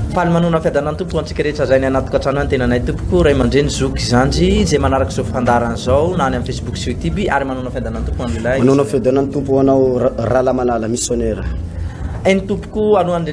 Ampalimanona fiadanan'ny Tompo ho antsika rehetra izay ny anaty tokantrano ny tenanay Tompoko, Ray aman-dreny, Zoky, Zandry, izay manaraka izao fandaharana izao na any amin'ny Facebook sy YouTube ary manona fiadanan'ny Tompo ho an'ilay Manona fiadanan'ny Tompo ho anao Ra- Rahalahy Manala, missionnaire. Eny Tompoko, alohan'ny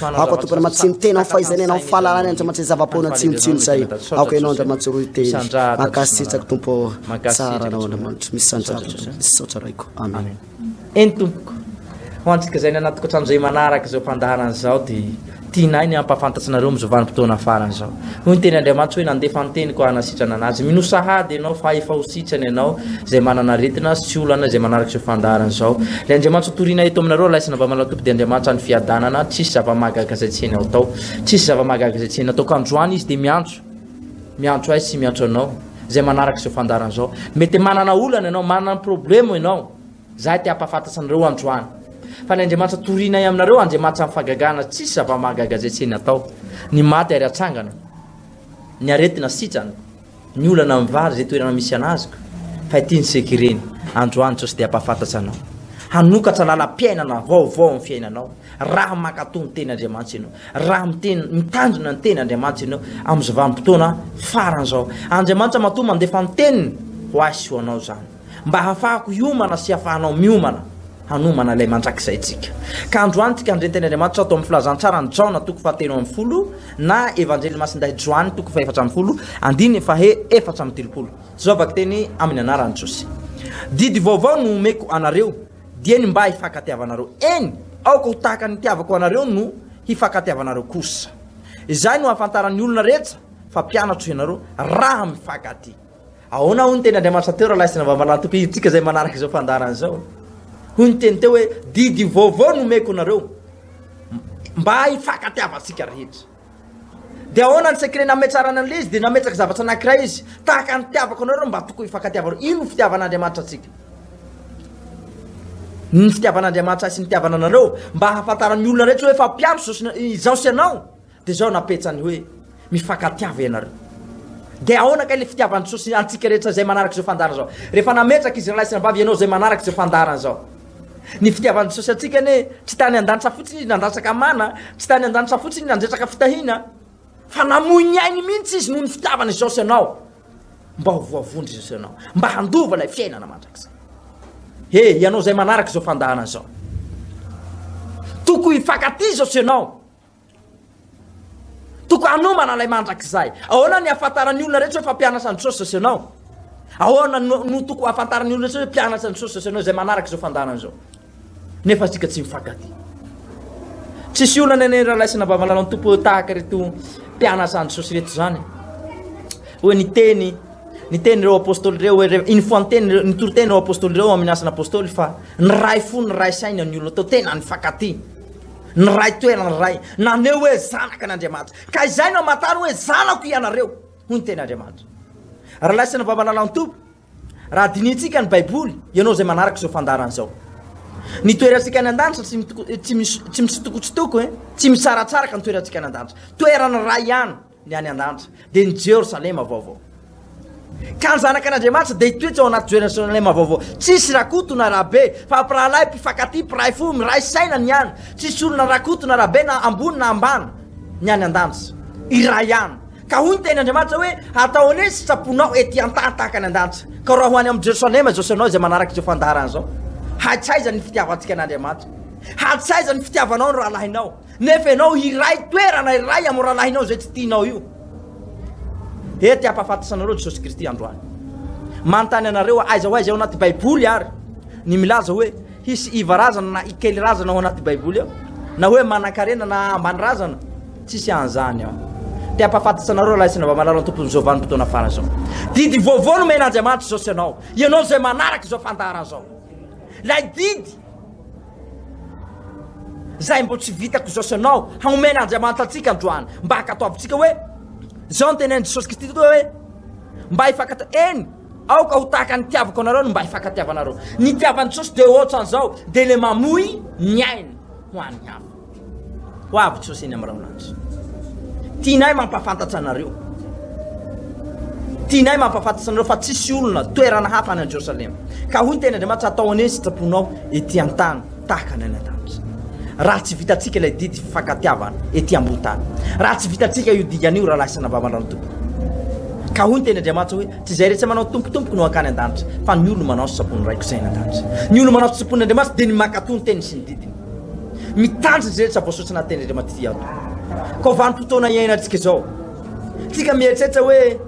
Aoka tompony matsimo tena ho faizana ianao fahalalany andriamanitra izay zava-poana tsinotsino izay aoka ianao andriamanitra roy teny mankasitraka tompo tsara anao andriamanitra misy sandrarana misy saotra raiko amen eny tompoko ho antsika izay ny anaty tokantrano izay manaraka izao fandaharana izao dia tianay ny hampahafantatsinareo amin'izao vanim-potoana farany izao Hoy ny teny Andriamanitra hoe nandefa ny teniko hanasitrana an'azy. Mino sahady ianao fa efa ho sitrana ianao izay manana aretina sy olana izay manaraka izao fandaharana izao. Ilay Andriamanitra toriana eto aminareo alaisina mba malatompy dia Andriamanitra ny fiadanana, tsisy zava-mahagaga izay tsy hainao atao. Tsisy zava-mahagaga izay tsy hainao atao. Ka androany izy dia miantso. Miantso ahy sy miantso anao izay manaraka izao fandaharana izao. Mety manana olana ianao, manana problemo ianao. Izahay te hampahafantatra anareo androany fa ny Andriamanitra torinay aminareo Andriamanitra amin'ny fagagana tsisy zava-mahagaga izay tsy eny atao, ny maty ary atsangana, ny aretina sitrana, ny olana mivary izay toerana misy an'azoko, fa ity ny seka ireny, androany Jesosy te hampahafantatra anao, hanokatra lalam-piainana vaovao amin'ny fiainanao, raha mankatò ny teny Andriamanitra ianao, raha miteny, mitandrina ny teny Andriamanitra ianao amin'izao vanim-potoana faran'izao. Andriamanitra matoa mandefa ny teniny ho ahy sy ho anao izany. mba hahafahako hiomana sy hafahanao miomana hanomana ilay mandrakizay tsika. Ka androany tika andrentany Andriamanitra ato amin'ny filazantsaran'i Jaona toko fahatelo ambin'ny folo na Evanjely Masindahy Joany toko fahefatra ambin'ny folo andininy fahe efatra amin'ny telopolo. Zao vakiteny amin'ny anaran'i Jesosy. Didy vaovao no omeko anareo dia ny mba hifankatiavanareo. Eny, aoka ho tahaka ny nitiavako anareo no hifankatiavanareo kosa. Izay no hahafantaran'ny olona rehetra fa mpianatro ianareo raha mifankatia. Ahoana hoy ny teny Andriamanitra teo raha laisina mba manantoko hidintsika izay manaraka izao fandaharana izao? Hoy ny teny teo hoe didy vaovao no meko anareo mba hifakatiavantsika rehetra. Dia ahoana ny sekre nametsarana an'ilay izy dia nametsaka zavatra anankiray izy tahaka ny tiavako anareo mba toko hifakatiavanareo. Ino ny fitiavan'Andriamanitra antsika? Ny fitiavan'Andriamanitra sy ny tiavana anareo mba hahafantaran'ny olona rehetra hoe efa mpiandry izao sy ianao. Dia izao napetsany hoe, Mifankatiava ianareo. Dia ahoana kay ilay fitiavan'i Jesosy antsika rehetra izay manaraka izao fandaharana izao? Rehefa nametraka izy ralahy sy rabavy ianao izay manaraka izao fandaharana izao. Ny fitiavan'i Jesosy antsika anie tsy tany an-danitra fotsiny izy nandrasaka mana, tsy tany an-danitra fotsiny izy nandretraka fitahiana, fa namoy ny ainy mihitsy izy noho ny fitiavana izao sy ianao. Mba ho voavondro izao sy ianao, mba handova ilay fiainana mandrakizay. He, ianao izay manaraka izao fandaharana izao. Toko hifankatia izao sy ianao. Tokony hanomana ilay mandrakizay. Ahoana ny hahafantaran'ny olona rehetra hoe fa mpianatra an'i Jesosy Jesosy ianao? Ahoana no, no tokony hahafantaran'ny olona rehetra hoe mpianatra an'i Jesosy Jesosy ianao izay manaraka izao fandaharana izao? Nefa isika tsy mifankatia. Tsisy olana ny ralaisina babalalaon'ny tompo hoe tahaka ireto mpianatra an'i Jesosy ireto izany. Hoe ny teny ny teny ireo apôstôly ireo hoe re- iny foanteny ireo- ny toriteny ireo apôstôly ireo amin'ny asana apôstôly fa ny ray fo ny ray saina ny olona tao tena nifankatia. Niray toerana iray naneho hoe zanaka an' Andriamanitra, ka izay no hamantarany hoe zanako ianareo, hoy ny teny Andriamanitra. Ralaisin'ny Vavalalantoba, raha dinihintsika ny Baiboly, ianao izay manaraka izao fandaharana izao. Ny toerantsika any an-danitra tsy tsy misy tsy mitsitokotsitoko, tsy misaratsaraka ny toerantsika any an-danitra. Toerana iray ihany. ny any an-danitra dia ny Jerosalema vaovao. Ka ny zanak'Anadriamanitra dia hitoetra ao anaty Jerosalema vaovao. Tsisy rakoto na rabe, fa mpirahalahy, mpifakatia, mpiray fo, miray saina ny any. Tsisy olona rakoto na rabe na ambony na ambany ny any an-danitra. Iray ihany. Ka hoy ny teny Andriamanitra hoe atao anie ny sitraponao ety an-tany tahaka any an-danitra. Ka raha ho any amin'ny Jerosalema izao sy ianao izay manaraka izao fandaharana izao, hatsaiza ny fitiavantsika an'Andriamanitra? Hatsaiza ny fitiavanao ny rahalahinao? Nefa ianao hiray toerana iray amin'ny rahalahinao izay tsy tianao io. Ety hampahafantatana anareo Jesosy Kristy androany. Manontany anareo aiza ho aiza ao anaty Baiboly ary ny milaza hoe hisy iva razana na ikely razana ao anaty Baiboly ao na hoe manankarena na ambany razana tsisy an'izany ao. Te hampahafantatsa anareo lahy sy ny vamalala ny tompon'ny zao vanim-potoana fara izao. Didy vaovao no men'Andriamanitra izao sy ianao. Ianao izay manaraka izao fandahara izao. Ilay didy Zay mbo tsy vitako zao sanao haomen Andriamanitra antsika androany mba akataovintsika hoe zao ny tenenin Jesosy Kristy toa hoe mba hifakata eny aoka ho tahaka ny nitiavako anareo no mba hifakatiavanareo nitiavan Jesosy de otranzao de le mamoy ny ainy ho any hafa Ho avy Jesosy eny amin'ny raon'andry. Tianay mampafantatra anareo. Tianay mampafantatra anareo fa tsisy olona toerana hafa any Jerosalema. Ka hoy tena Andriamanitra atao anie ny sitraponao ety an-tany tahaka ny any an-danitra. Raha tsy vitantsika ilay didy fifankatiavana ety ambony tany. Raha tsy vitantsika io dingana io rahalahy sy navavandrano tompoko. Ka hoy ny teny Andriamanitra hoe tsy izay rehetra manao tompotompoko no hankany an-danitra fa ny olona manao sitrapon'ny raiko izay any an-danitra. Ny olona manao sitrapon'Andriamanitra dia ny mankatò ny teniny sy ny didiny. Mitandrina izay rehetra voasoratra anaty tenin'Andriamanitra ity ato. Koa vanim-potoana iainantsika izao. Tsika mieritreritra hoe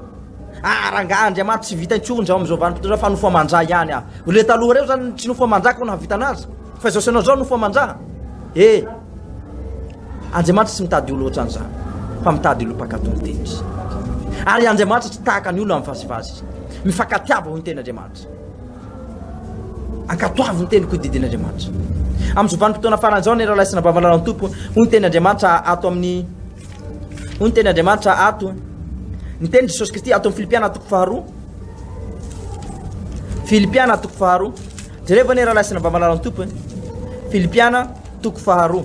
ah rangaha Andriamanitra tsy vita intsony izao amin'izao vanim-potoana fa nofo aman-dra ihany ah. Ireo taloha ireo izany tsy nofo aman-dra koa nahavita anazy. Fa izao sanao izao nofo aman-dra. Eh. Andriamanitra tsy mitady olona ohatran'izany fa mitady olona mpakato ny teniny. Ary Andriamanitra tsy tahaka ny olona mivazivazy. Mifankatiava ho ny tenin'Andriamanitra. Ankatoavy ny teniko ho didin'Andriamanitra. Amin'izao vanim-potoana farany izao, ny rahalahy sy anabavy malala ny Tompo, hoy ny tenin'Andriamanitra ato amin'ny hoy ny tenin'Andriamanitra ato ny teny Jesosy Kristy ato amin'ny Filipiana toko faharoa. Filipiana toko faharoa. Jereo ve ny rahalahy sy anabavy malala ny Tompo? Filipiana toko faharoa.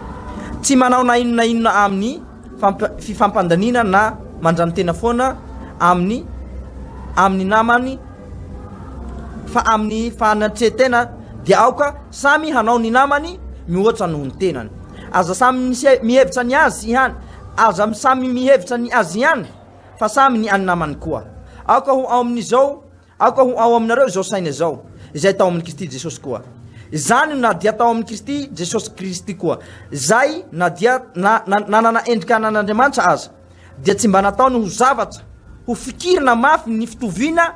Tsy manao na inona na inona amin'ny fifampandaniana na mandranotena foana amin'ny amin'ny namany fa amin'ny fanatrehan-tena dia aoka samy hanao ny namany mihoatra noho ny tenany. Aza samy mihevitra ny azy ihany, aza samy mihevitra ny azy ihany fa samy ny an'ny namany koa. Aoka ho ao amin'izao Aoka ho ao aminareo izao saina izao, izay tao amin'i Kristy Jesosy koa. Izany no na dia tao amin'i Kristy Jesosy Kristy koa, izay na dia na, na, nanana endrika anan'Andriamanitra aza, dia tsy mba nataony ho zavatra ho fikirina mafy ny fitoviana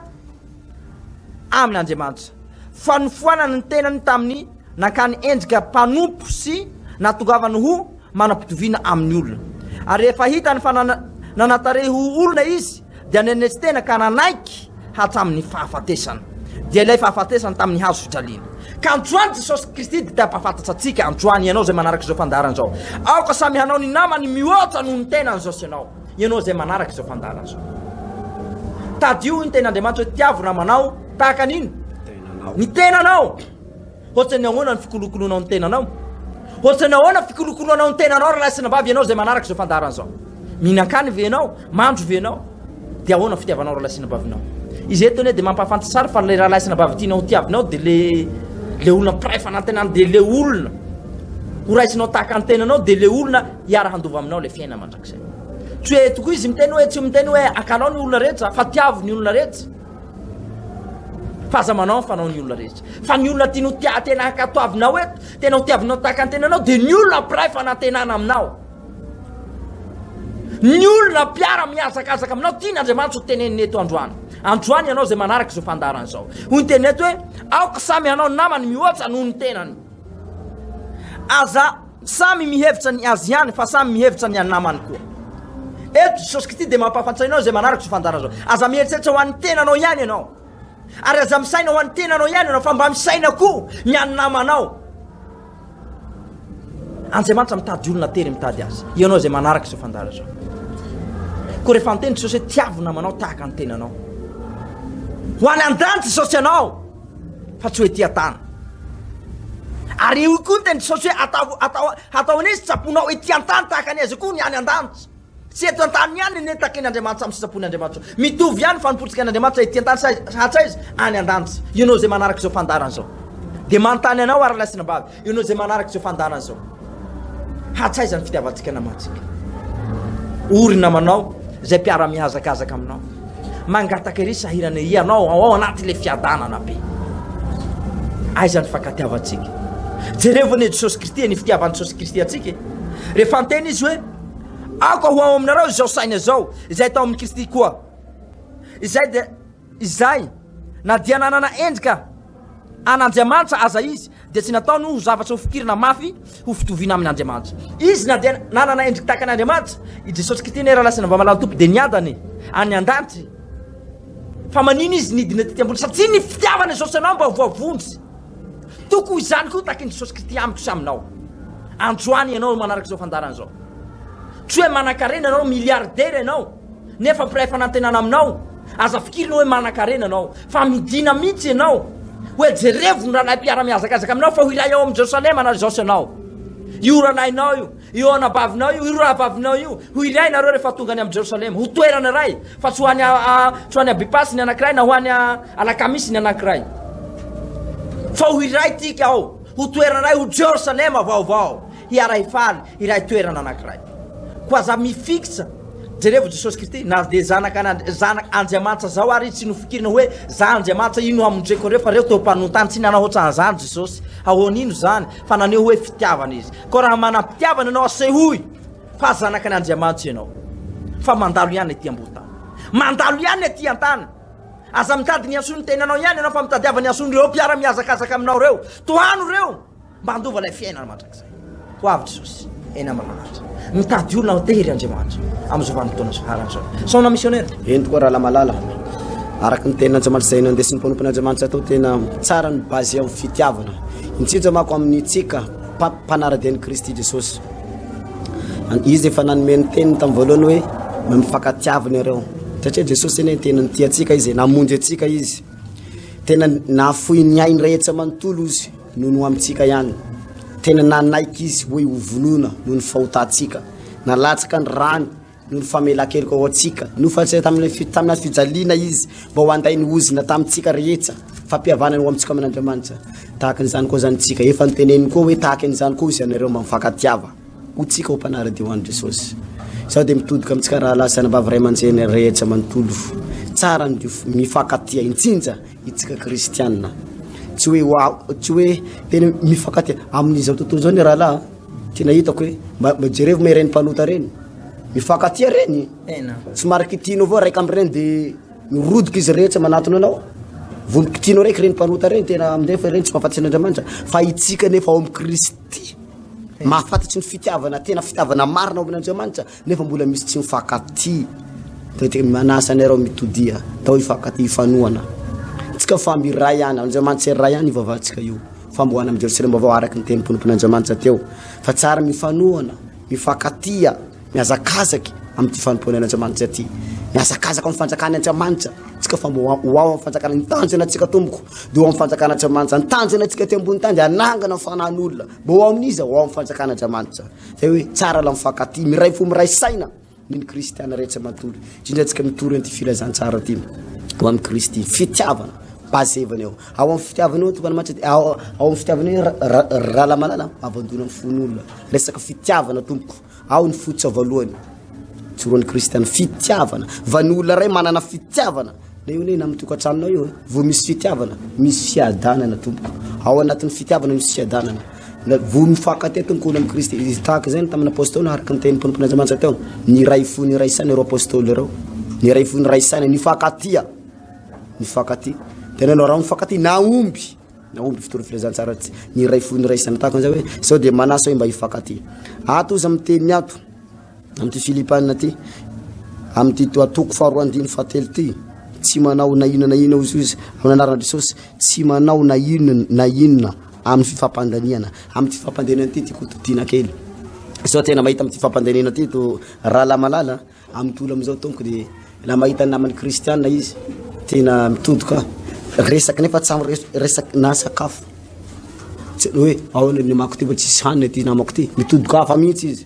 amin'Andriamanitra, fa nofoanany ny tenany tamin'ny nankany endrika mpanompo sy natongavany ho manam-pitoviana amin'ny olona. Ary rehefa hitany fa nana, nanantarehy ho olona izy, dia nenesi-tena ka nanaiky hatramin'ny fahafatesana, dia ilay fahafatesana tamin'ny hazo fijaliana. Ka androany Jesosy Kristy dia te-hampahafantatra antsika, androany ianao izay manaraka izao fandaharana izao. Aoka samy hanao ny namany mihoatra noho ny tenany izao sy ianao, ianao izay manaraka izao fandaharana izao. Tadidio ny tenin'Andriamanitra hoe tiavo namanao tahaka an'ino? Ny tenanao. Ohatran'ny ahoana ny fikolokoloanao ny tenanao? Ohatran'ny ahoana ny fikolokoloanao ny tenanao ry lahy sy nabavy ianao izay manaraka izao fandaharana izao? Mihinan-kany ve ianao? Mandro ve ianao? Dia ahoana ny fitiavanao ry lahy sy nabavinao? Izy eto anie dia mampahafantasy ary fa ilay rahalahy sy nabavy tianao tiavinao dia le le olona mpiray fanantenana dia le olona ho raisinao tahaka ny tenanao dia le olona hiara handova aminao ilay fiainana mandrakizay. Tsy hoe tokoa izy miteny hoe tsy miteny hoe akalao ny olona rehetra fa tiavo ny olona rehetra. Fa aza manao ny fanaon'ny olona rehetra. Fa ny olona tianao tia tena ankatoavinao eto, tena ho tiavinao tahaka ny tenanao dia ny olona mpiray fanantenana aminao. Ny olona mpiara mihazakazaka aminao tiana Andriamanitra ho tenenina eto androany. Androany ianao izay manaraka izao fandaharana izao. Hoy ny teniny eto hoe aoka samy hanao namany mihoatra noho ny tenany. Aza Samy mihevitra ny azy ihany fa samy mihevitra ny an'ny namany koa. Eto Jesosy Kristy dia mampahafantra anao izay manaraka izao fandaharana izao. Aza mieritreritra ho an'ny tenanao ihany ianao. Ary aza misaina ho an'ny tenanao ihany ianao fa mba misaina koa ny an'ny namanao. Andriamanitra mitady olona tery mitady azy. Ianao izay manaraka izao fandaharana izao. Koa rehefa niteny Jesosy hoe tiavo namanao tahaka ny tenanao. Ho any an-danitra Jesosy ianao. fa tsy hoe tia tana ary eo koa ny tena tsy saosy hoe atao atao atao an'izy tsaponao hoe tia tany tahaka ny aiza koa ny any an-danitra tsy eto an-tany ihany ny takin' Andriamanitra amin'ny sitrapon'i Andriamanitra mitovy ihany fanompoantsika an'Andriamanitra ety an-tany sa hatraiza any an-danitra ianao izay manaraka izao fandaharana izao dia manontany anao ary lahy sy anabavy Ianao izay manaraka izao fandaharana izao, hatsaiza ny fitiavantsika namantsika. Ory namanao izay mpiara-mihazakazaka aminao. Mangataka iry sahirana iry ianao ao anatin'ilay fiadanana be. Aiza ny fankatiavantsika? Jerevana i Jesosy Kristy ny fitiavan'i Jesosy Kristy antsika. E. Rehefa anteny izy hoe aoka ho ao aminareo izao saina izao izay tao amin'i Kristy koa. Izay dia Izay, na dia nanana endrika an'Andriamanitra aza izy, dia tsy nataony ho zavatra hofikirina mafy ho fitoviana amin' Andriamanitra. Izy na dia nanana endrika tahaka an'Andriamanitra, i Jesosy Kristy anie raha lasa nivamalahan'ny Tompo dia niadany any an-danitra. Fa maninona izy nidina tety ambony? Satria ny fitiavana Jesosy anao mba voavonjy. Toky ho izany koa takin'i Jesosy Kristy amiko sy aminao. Androany ianao manaraka izao fandaharana izao. Tsy hoe manan-karena ianao, miliaridera ianao. Nefa mpiray fanantenana aminao, aza fikirina hoe manankarena ianao, fa midìna mihitsy ianao hoe jerevo ny rahalahy mpiara-mihazakazaka aminao fa ho iray ao amin'i Jerosalema na Jaosy ianao. Io rahalahinao io, io anabavinao io, io rahavavinao io, ho iray ianareo rehefa tonga any amin'i Jerosalema, ho toerana iray, fa tsy ho any, tsy ho any Abipasy ny anankiray na ho any Alakamisy ny anankiray. Fa ho iray tika ao, ho toerana iray, ho Jerosalema vaovao. hiaray faly ilay toerana anankiray. Koa aza mifikitra, jerevo Jesosy Kristy, na dia zanaka an'Andri- zanak' Andriamanitra zao ary tsy nofikirina hoe za Andriamanitra ino amondreko anreo fa reo teo mpanontany tsy nanao otran'zany Jesosy, ahoan ino zany fa naneho hoe fitiavana izy. Koa raha manam-pitiavana ianao asehoy fa zanak' an' Andriamanitra ianao fa mandalo ihany ety ambohotany. Mandalo ihany ety antany. Aza mitady ny hasoan'ny tenanao ihany ianao fa mitadiava ny hasoan'ireo mpiara-mihazakazaka aminao reo. Tohano reo. Mba handova ilay fiainana mandrakizay ho avy Jesosy eny amin'ny lanitra. Mitady olona ho tery Andriamanitra amin'izao vanim-potoana farany izao. Saona misionera. Eny tokoa Ralamalala. Araka ny teny Andriamanitra izay nandesin'ny mpanompony Andriamanitra tao tena tsara ny base amin'ny fitiavana. Indrindra manko amin'ny tsika mpanaradia an'i Kristy Jesosy. Izy efa nanome ny teniny tamin'ny voalohany hoe mifankatiavy nareo. Satria Jesosy eny tena nitia antsika izy, namonjy antsika izy. Tena nafoy ny ainy rehetra manontolo izy. Nono amintsika ihany. Tena nanaiky izy hoe ho vonoina noho ny fahotantsika. Nalatsaka ny rany noho ny famelan-keloka ho antsika. Nofatrisa tamin'ny tamin'ny fijaliana izy mba ho handay ny ozona tamintsika rehetra. Fampihavanana ho amintsika amin'Andriamanitra. Tahaka an'izany koa izany isika. Efa noteneniny koa hoe tahaka an'izany koa hozy anareo mba mifankatiava ho tsika ho mpanara-dia ho an'i Jesosy. Izaho dia mitodika amintsika rahalahy sy anabavy ray aman-dreny rehetra manontolo. Tsara ny mifankatia, indrindra Isika kristianina, tsy hoe ho a- tsy hoe tena mifankatia amin'izao tontolo izao ny rahalahy a. tena hitako hoe mba mba jerevo ma ireny mpanota ireny mifankatia ireny Tena. tsy mara kitianao avao raika amin'ireny de mirodoka izy rehetra manatona anao vony kitianao raiky ireny mpanota ireny tena amin'izay fa ireny tsy mahafantatry ny andriamanitra fa itsika nefa ao amin'i kristy mahafantatry ny fitiavana tena fitiavana marina ao amin'andriamanitra Nefa mbola misy tsy mifankaty. Manasa anareo mitodiha tao hifankaty hifanohana. Tsika fa miray ihany, Andriamanitra iray ihany ivavahantsika io. Fambohana amin'ny Jerosalema vaovao araka ny teny ponopon'Andriamanitra teo. Fa tsara mifanohana, mifankatia, mihazakazaky amin'ny ty fanompoana an'Andriamanitra ty. Mihazakazaka amin'ny fanjakana Andriamanitra. Tsika fa mbola ho ao amin'ny fanjakana. Ny tanjona antsika tompoko dia ho amin'ny fanjakana Andriamanitra. Ny tanjona antsika aty ambony tany dia hanangana fanan'olona. Mbola ho amin'iza? Ho ao amin'ny fanjakana Andriamanitra. Zay hoe tsara la mifankatia, miray fo miray saina ny ny kristiana rehetra matory, indrindra antsika mitory an'ity filazantsara ity ho amin'i Kristy. Fitiavana, base evana eo. Ao amin'ny fitiavana eo tompon'Andriamanitra dia ao ao amin'ny fitiavana eo ra- ra- ralamalala avandona amin'ny fon'olona. Resaka fitiavana tompoko, ao ny fototra voalohany. Tsoroan'ny kristiana, fitiavana. Van'ny olona iray manana fitiavana. Ilay hoe ny amin'ny tokantranonao io eh, vao misy fitiavana, misy fiadanana tompoko. Ao anatin'ny fitiavana misy fiadanana. Na vao mifankatia tompoko olona amin'i Kristy. Izy tahaka izay ny tamin'ny apôstôly araka ny tenin'ny tompon'Andriamanitra teo. Ny iray fo, ny iray saina ireo apôstôly ireo. Ny iray fo, ny iray saina, nifankatia. Nifankatia. Tena ianao raha mifankatia, nahomby. Nahomby fitory filazantsara tsy. Ny iray fo, ny iray saina tahaka izay hoe sao dia manasa hoe mba hifankatia. Ato izy amin'ny teniny ato. Amin'ity Filipana ity, amin'ity toko faharoa andininy fahatelo ity, tsy manao na inona na inona hoy izy, amin'ny anaran'i Jesosy, tsy manao na inona na inona amin'ny fifampandaniana. Amin'ity fifampandaniana ity tiako todiana kely. Sao tena mahita amin'ity fifampandaniana ity to rahalahy malala amin'ny tontolo amin'izao tompoko dia raha mahita ny namany kristiana izy tena mitodoka resaka nefa tsy amin'ny resaka na sakafo. Tsy hoe ahoana ny namako ity fa tsisy hanina ity namako ity. Mitodoka hafa mihitsy izy.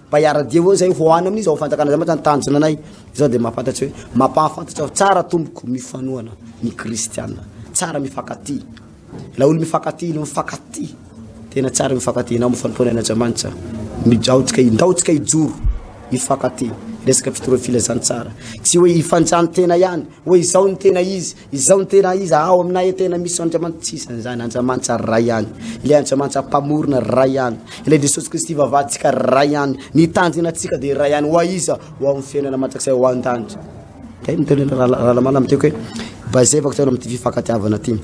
Mba hiara-dia hono zay ho any amin' izao fanjakana izao mantsy ny tanjona anay. Izao dia mahafantatra hoe mampahafantatra aho tsara tompoko mifanohana ny kristiana. Tsara mifankatia. Ilay olona mifankatia no mifankatia. Tena tsara mifankatia. Ianao mifanompoana any Andriamanitra. Mijaotsika, indaotsika hijoro mifankatia. Resaka fitorahana filazantsara. Tsy hoe hifanjano tena ihany, hoe izao ny tena izy. Izao no tena izy, ao aminay tena misy Andriamanitra tsy isan'ny izany, Andriamanitra ray ihany, ilay Andriamanitra mpamorona ray ihany, ilay Jesosy Kristy vavantsika ray ihany, ny tanjona antsika dia ray ihany, ho aiza? Ho amin'ny fiainana mandrakizay ho an-danitra. Dia ny tena ralamana amin'ny tiako hoe bazevako tena amin'ity fifankatiavana ity.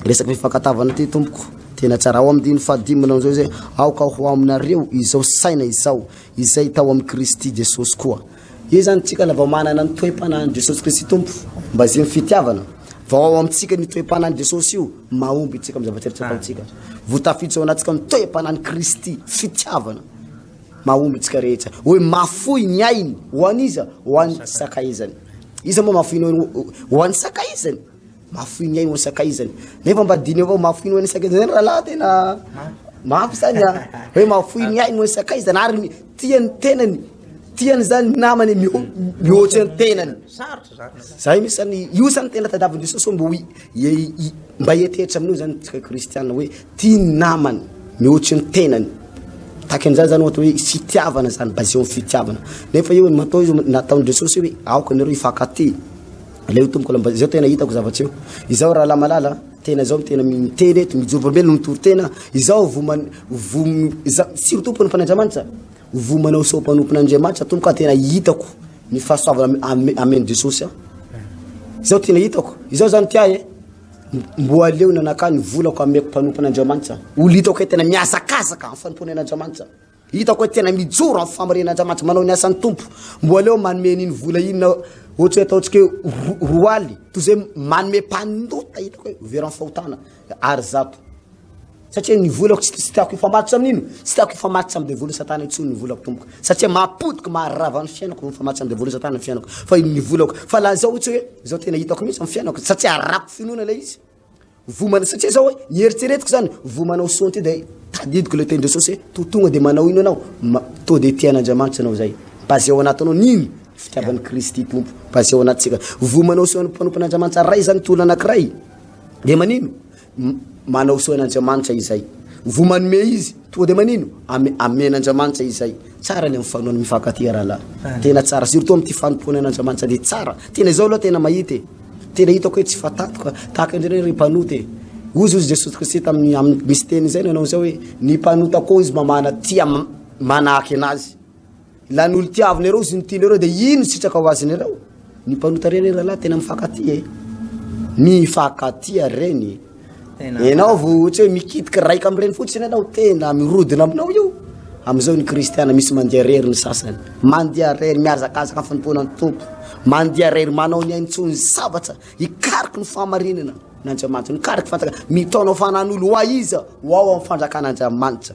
Resaka fifankatavana ity tompoko tena tsara ao amin'ny diny fahadimy manao izao izay aoka ho aminareo izao saina izao izay tao amin'i Kristy Jesosy koa. Io zany tsika la vao manana ny toe-panahin'i Jesosy Kristy Tompo, mba izay ny fitiavana. Vao ao amintsika ny toe-panahin'i Jesosy io, mahomby itsika amin'ny zavatra rehetra ataontsika. Vao tafiditra ao anatintsika ny toe-panahin'i Kristy, fitiavana, mahomby itsika rehetra. Hoe mafoy ny ainy, ho an'iza? Ho an'ny sakaizany. Iza moa mafoy ny ainy ho an'ny sakaizany? Mafoy ny ainy ho sakaizany. Nefa mba diniho avao mafoy ny ainy sakaizany zany rahalahy tena mafy zany a. Hoe mafoy ny ainy ho sakaizany ary ny tiany tenany. Tiany zany ny namany mihoatra ny tenany. Zay misy zany io zany tena tadavin Jesosy mba hoe mba hietehitra amin'io zany tsika kristiana hoe tia ny namany mihoatra ny tenany. Tahaka an'izany zany ohatra hoe fitiavana zany baseo amin'ny fitiavana. Nefa io matoa io nataon'i Jesosy hoe aoka anareo hifankatia. Aleo tompoko lamba izao tena hitako zavatra io. Izao rahalahy malala, tena izao tena miteny eto mijoro volombelona mitory tena. Izao voman vom izao tsy tompony fa Andriamanitra. Vomanao sao mpanompon'Andriamanitra tompoko tena hitako ny fahasoavana amen Jesosy a. Izao tena hitako. Izao zany ty ahy. Mboa aleo nanakany volako ameko mpanompon'Andriamanitra. Olo hitako tena miazakazaka amin'ny fanompoana an'Andriamanitra. Hitako hoe tena mijoro amin'ny famoriana Andriamanitra manao ny asan'ny Tompo. Mboa aleo manome an'iny vola iny na ohatry ataontsika hoe roa aly toy izay manome mpanota hitako hoe veran'ny fahotana ary zato. Satria ny volako tsy tsy tiako hifamatotra amin'ino? Tsy tiako hifamatotra amin'ny devoly satana intsony ny volako tompoko. Satria mampodiko maharava ny fiainako no hifamatotra amin'ny devoly satana ny fiainako. Fa ino ny volako? Fa lazao ohatry hoe izao tena hitako mihitsy amin'ny fiainako satria arako finoana ilay izy. Vo manao satsia zao hoe eritseretiko zany vo manao son ty dia tadidiko le teny Jesosy hoe to tonga dia manao ino ianao to dia tia an'Andriamanitra ianao zay mba zay ao anatinao nino fitiavan'i Kristy Tompo mba zay ao anatintsika vo manao son mpanompon'Andriamanitra ray zany tolona anakiray dia manino manao son an'Andriamanitra izay vo manome izy Tonga de manino? Ame, amen Andriamanitra izay. Tsara le mifanohana mifankatia rahalahy. Tena tsara surtout amin'ity fanompoana an'Andriamanitra dia tsara. Tena izao aloha tena mahita e. Tena hitako hoe tsy fatantoka tahaka indrindra hoe ry mpanota e. Ozy ozy Jesosy Kristy tamin'ny amin'ny misy teny izay nanao izao hoe ny mpanota koa izy mamana tia manahaka enazy. Ilany olo tiavina ireo izy no tiany ireo dia ino sitraka ho aziny ireo? Ny mpanota reny ry rahalahy tena mifankatia e. Mifankatia reny. Enao vo tsy hoe mikitika raika amin'ireny fotsiny ianao tena mirodona aminao io. Amin'izao ny kristiana misy mandeha rery ny sasany. Mandeha rery mihazakazaka ny fanompoana ny Tompo. Mandeha rery manao ny ainy tsony zavatra hikariky ny fahamarinana n'Andriamanitra. Nikariky fantaka mitaona fanan'olo ho aiza ho ao amin'ny fanjakan'Andriamanitra.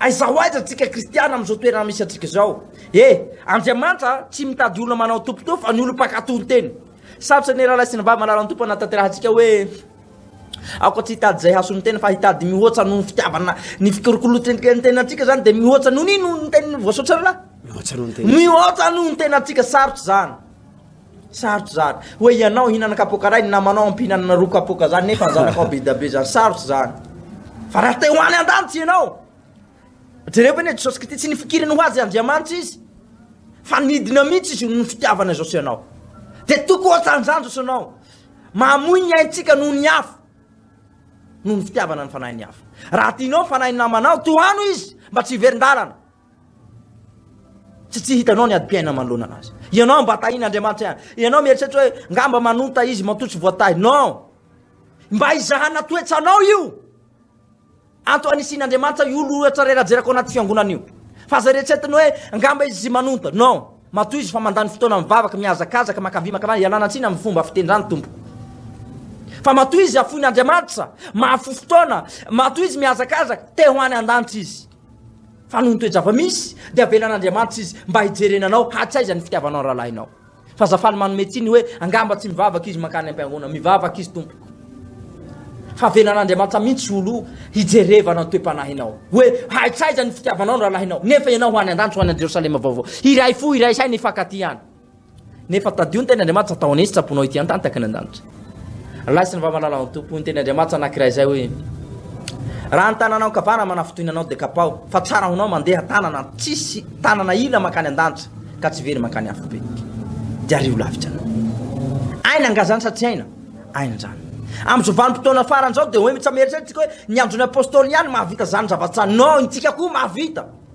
Aiza ho aiza tsika kristiana amin'izao toerana misy antsika izao e! Andriamanitra tsy mitady olona manao topotoa fa ny olom-pankatò ny teny. Sarotra ny rahalahy sy ny vavy manala ny Tompo hanatanterantsika hoe aoka tsy hitady izay hahasoa ny tena fa hitady mihoatra noho ny fitiavana ny fikolokoloantsika ny tenantsika izany dia mihoatra noho ny noho ny teny voasotra rahalahy. Mihoatra noho ny tena. Mihoatra noho ny tenantsika sarotra izany. Sarotra zany. Hoe ianao hihinana kapoaka iray, ny namanao ampihinanana roa kapoaka zany nefa ny zanakao be dia be zany. Sarotra zany. Fa raha te ho any an-danitra ianao, jereo ve ne Jesosy Kristy tsy nifikiriny ho azy Andriamanitra izy. Fa nidina mihitsy izy noho ny fitiavana izao sy ianao. Dia toko ohatran'izany izao sy ianao. Mamoy ny aintsika noho ny hafa. Noho ny fitiavana ny fanahin'ny hafa. Raha tianao ny fanahin'ny namanao, tohano izy mba tsy hiverin-dalana. Tsy tsy hitanao ny adim-piainana manoloana anazy. Ianao mba tahin'Andriamanitra ihany. Ianao mieritreritra hoe ngamba manonta izy, matoa tsy voatahy. Non! Mba izahana toetsanao io. Anto anisian'Andriamanitra io lohatra iray rajerako anaty fiangonana io. Fa aza eritreretiny hoe ngamba izy manonta. Non! Matoa izy fa mandany fotoana mivavaka, mihazakazaka, makavia makavia, ialana tsiny amin'ny fomba fitendrany tompoko. Fa matoa izy afoin'Andriamanitra, mahafo fotoana, matoa izy mihazakazaka, te ho any an-danitra izy. Fa noho ny toe-java-misy, dia avelan'Andriamanitra izy mba hijerena anao hatsaiza ny fitiavanao ny rahalahinao. Fa Zafà ny manome tsiny hoe angamba tsy mivavaka izy mankany am-piangonana, mivavaka izy tompoko. Fa avelan'Andriamanitra mihitsy olo hijerevana ny toe-panahinao. Hoe hatsaiza ny fitiavanao ny rahalahinao, nefa ianao ho any an-danitra, ho any an-Jerosalema vaovao. Hiray fo, hiray saina, hifankatia any. Nefa tadio ny Tenin'Andriamanitra tao an'Esy tsaponao ity an-tantaky ny an-danitra. Laisin'ny vavalalan'ny Tompo ny Tenin'Andriamanitra anankiray izay hoe raha ny tananao ankavana manafotoina anao dia kapaho fa tsara ho anao mandeha tanana tsisy tanana ila mankany an-danitra ka tsy very mankany afobe. Dia ariho lavitra anao. Aina angazany sa tsy aina? Aina izany. Amin'izao vanim-potoana farany izao dia hoe mitsameritseritsika hoe ny andron'ny apôstôly ihany mahavita izany zavatra izany. Non, intsika koa mahavita.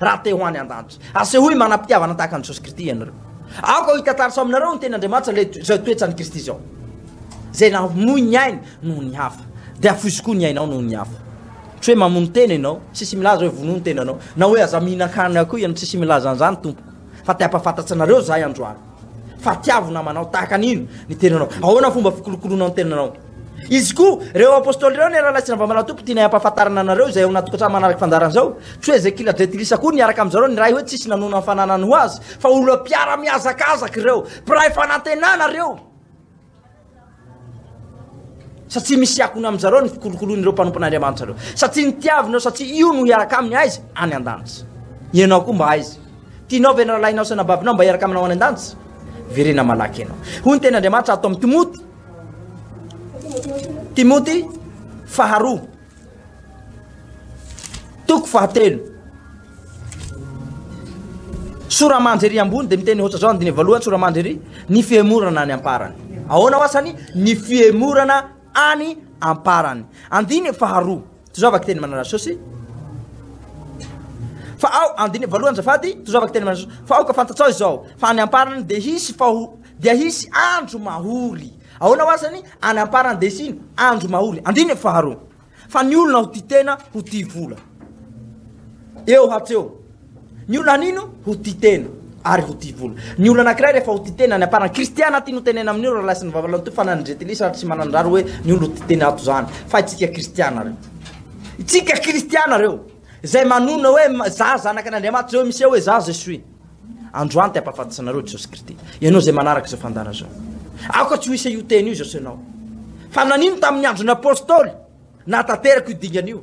Raha te ho any an-danitra, asehoy manam-pitiavana tahaka an'i Jesosy Kristy ianareo. Aoka hitantarso aminareo ny teny Andriamanitra ilay izao toetran'i Kristy izao. Izay namoy ny ainy noho ny hafa, dia hafoizo koa ny ainao noho ny hafa. Tsy hoe mamono tena ianao, tsisy milaza hoe vonoa ny tenanao, na hoe aza mihinan-kanina akoho ianao, tsisy milaza an'izany Tompoko. Fa te hampafantatsa anareo izahay androany, fa tiavo namanao tahaka an'ino ny tenanao, ahoana ny fomba fikolokoloanao ny tenanao. Izy koa, ireo Apostoly ireo anie rahalahy sy Ravamalahy Tompo tianay hampahafantarana anareo izay ao anaty tokantrano manaraka fandaharana izao. Tsy hoe Zekila Jetilisa koa niaraka amin'izareo niray hoe tsisy nanona ny fananany ho azy, fa olona mpiara-mihazakazaka ireo, mpiray fanantenana ireo. Satria misy akony amin'izareo ny fikolokoloan'ireo mpanompon'Andriamanitra ireo. Satria nitiaviny ireo satria io no hiaraka aminy aiza? Any an-danitra. Ianao koa mba aiza? Tianao ve ny rahalahinao sy anababinao mba hiaraka aminao any an-danitra? Verena malaky ianao. Hoy ny tenin'Andriamanitra ato amin'ny Timoty. Timoty faharoa toko fahatelo soramandry ambony de miteny ohatra zao andiny voalohany soramandry ny fihemorana any amparany ahoana oasany ny fihemorana any amparany andiny faharoa Tozava kiteny manana sosy fa ao andiny voalohany zafady tozava kiteny manana sosy fa aoka fantatsao izao fa any amparany dia hisy faho dia hisy andro mahory ahoana hoa zany any amparany dia hisy andro mahory andiny faharoa fa ny olona ho tia tena ho tia vola eo hatreo Ny olona hanino ho tia tena ary ho tia vola. Ny olona anankiray rehefa ho tia tena any am-parany, Kristiana aty no tenena amin'io raha laisin'ny vavalahy toy fanan'ny jentilisa ary tsy manan-drary hoe ny olona ho tia tena ato izany fa itsika Kristiana reo. Itsika Kristiana reo izay manonona hoe za zanaka an'Andriamanitra izay hoe miseho hoe za je suis. Androany te hampahafantatsa anareo Jesosy Kristy. Ianao izay manaraka izao fandàna izao. Aoka tsy ho isa io teny io Jesosy anao. Fa nanino tamin'ny andron'ny apostoly nahatanteraka io dingana io.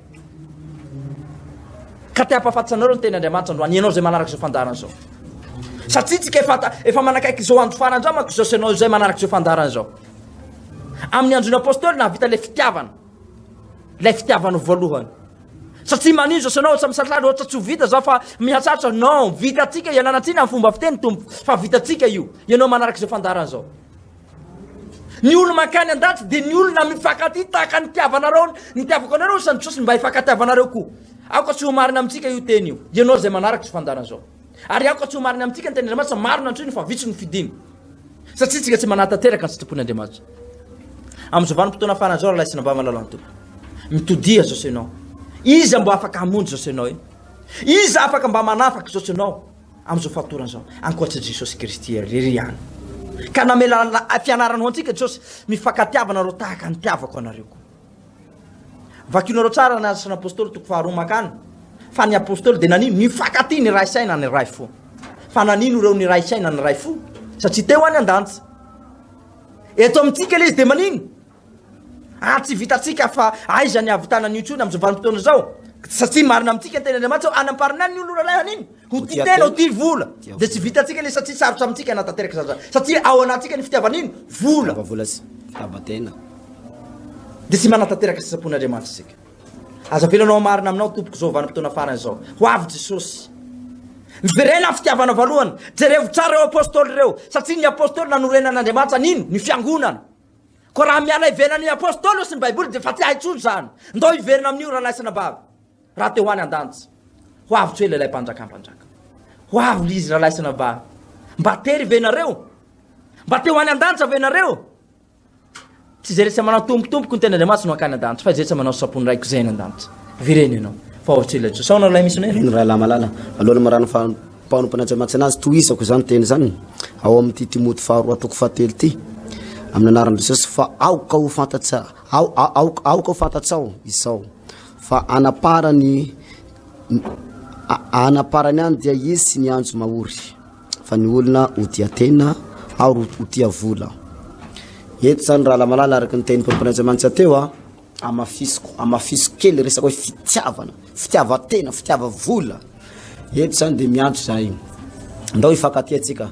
Ka te hampahafatisa anareo ny teny Andriamanitra androany, ianao izay manaraka izao fandaharana izao. Satria tsika efa, efa manakaiky izao andro farany izao manko izao sy ianao izay manaraka izao fandaharana izao. Amin'ny andron'ny apôstôly nahavita ilay fitiavana, ilay fitiavana voalohany. Satria manino izao sy ianao ohatsa misatrary, ohatsa tsy ho vita izao fa mihatsatra, non, vitatsika, iananantsika ny fomba fiteny tompo, fa vitatsika io, ianao manaraka izao fandaharana izao. Ny olo mankany andaty dia ny olona mifankatia tahaka ny tiavanareo ny tiavako anareo isan'ny Jesosy mba hifankatiavanareo koa. Aoka tsy ho marina amintsika io teny io. Ianao izay manaraka izao fandaharana izao. Ary aoka tsy ho marina amintsika ny tenin'Andriamanitra, maro ny antsoiny fa vitsy ny fidiny. Satria tsika tsy manatanteraka ny sitrapon'Andriamanitra. Amin'izao vanim-potoana farany izao raha sinambava ny lalàn'ny Tompo. Mitodiha izao ianao. Iza mba afaka hamonjy izao ianao e? Iza afaka mba manafaka izao ianao? Amin'izao fahatorana izao, ankoatry i Jesosy Kristy irery ihany ka namela ny fianarany ho antsika Jesosy, mifankatiavana nareo tahaka ny tiavako anareo koa. Vakinareo tsara ny asan'ny apostoly toko faharoa makany fa ny apostoly dia nanino nifankatia ny ray saina ny ray fo. Fa nanino ireo ny ray saina ny ray fo? Satria teo any an-danitra. Eto amintsika ilay izy dia manino? Ary tsy vitantsika fa aiza ny havitana an'io intsony amin'izao vanim-potoana izao? Satria marina amintsika ny tenin' Andriamanitra hoe hanam-parinany ny olona ralahiny iny. Ho tia tena, ho tia vola. Dia tsy vitantsika ilay satria sarotra amintsika hanatanteraka izany zany. Satria ao anatintsika ny fitiavana ino? Vola. Fitiava vola sy fitiavan-tena. Dia tsy manatanteraka sitrapon' Andriamanitra isika. Aza avelao anao hamarina aminao tompoko izao vanim-potoana farany izao. Ho avy Jesosy. Miverena ny fitiavana voalohany. Jerevo tsara ireo apostoly ireo. Satria ny apostoly nanorenan'Andriamanitra an'ino? Ny fiangonana. Koa raha miala ivelan' ny Apôstôly sy ny Baiboly dia efa tsy hay intsony izany. Ndao hiverina amin' io rahalahy sy anabavy. Raha te ho any an-danitra, ho avy tsy ho ela ilay Mpanjaka mpanjaka. Ho avy ry izy rahalahy sy anabavy. Mba tery ve ianareo? Mba te ho any an-danitra ve ianareo? Tsy izay rehetra manao tompotompoko ny tenin'Andriamanitra no hankany an-danitra, fa izay rehetra manao sapony raiko izay any an-danitra. Virena ianao, fa ho avy tsy ho ela intsony. Sao nareo lahy misionera? Eny rahalahy malala, alohan'ny marary ny faha. Mpanompo Natsaimantsina azy, tohizako izany teny izany ao amin'ity Timoty faharoa toko fahatelo ity, amin'ny anaran'i Jesosy, fa aoka ho fantatsa, ao, aoka, aoka ho fantatsao izao, fa anaparany, anaparany any dia hisy ny anjo mahory, fa ny olona ho tia tena, ary ho tia vola. Eto izany raha lamalala araka ny teny Mpanompo Natsaimantsina teo, a, Amafisiko, amafisiko kely resaka hoe fitiavana, fitiavan-tena, fitiava-vola. Eto izany dia miantso za io. Ndao hifankatia tsika.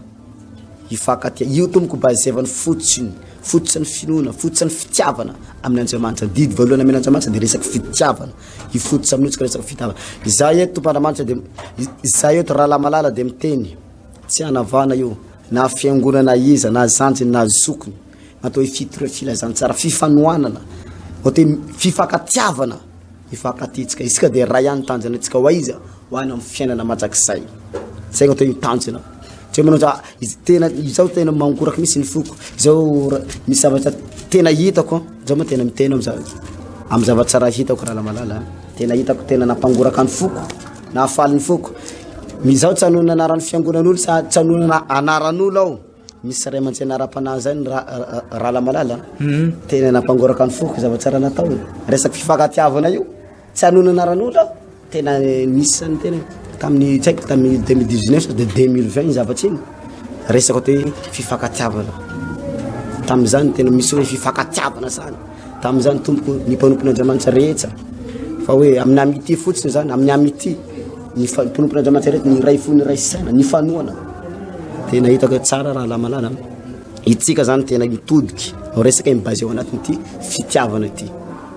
Hifankatia. Io tompoko bazevany fotsiny, fotsiny finoana, fotsiny fitiavana amin'ny Andriamanitra. Didy voalohany amin'ny Andriamanitra dia resaka fitiavana. Hifototra amin'ny otsika resaka fitiavana. Za eto tompoko Andriamanitra dia za eto rahalahy malala dia miteny. Tsy hanavana io na fiangonana iza, na zandriny, na zokiny. Atao hoe fitoriana, filazantsara, fifanohanana, atao hoe fifankatiavana, mifankatetska. Isika dia ray ihany tanjona antsika ho aiza? Ho any amin'ny fiainana mandrakizay. Zay atao hoe tanjona. Tsy manao za tena izao tena mangoraka mihitsy ny foko. Izao misy zavatra tena hitako, zao moa tena miteny amin'izao. Amin'ny zavatra raha hitako raha malala, tena hitako tena nampangoraka ny foko, nahafaly ny foko. Izao tsy hanohana anaran'ny fiangonan'olo sa tsy hanohana anaran'olo aho. Misy ray aman-tsena ara-panahy zay ny Rala Malala, tena nampangoraka ny foko zava-tsara nataony, resaka fifankatiavana io, tsy hanoina anaran'olona aho, tena nisy ny tena tamin'ny tsy haiko tamin'ny deux mille dix-neuf sa dia deux mille vingt zavatra iny, resaka ohatra hoe fifankatiavana, tamin'izany tena misy hoe fifankatiavana zany. Tamin'izany tompoko ny mpanompon'Andriamanitra rehetra fa hoe amin'ny amity fotsiny zany amin'ny amity ny mpanompon'Andriamanitra rehetra ny iray fo ny iray saina ny fanoana tena hitako tsara raha lamalala itsika zany tena mitodiky no resaka ny base eo anatin'ity fitiavana ity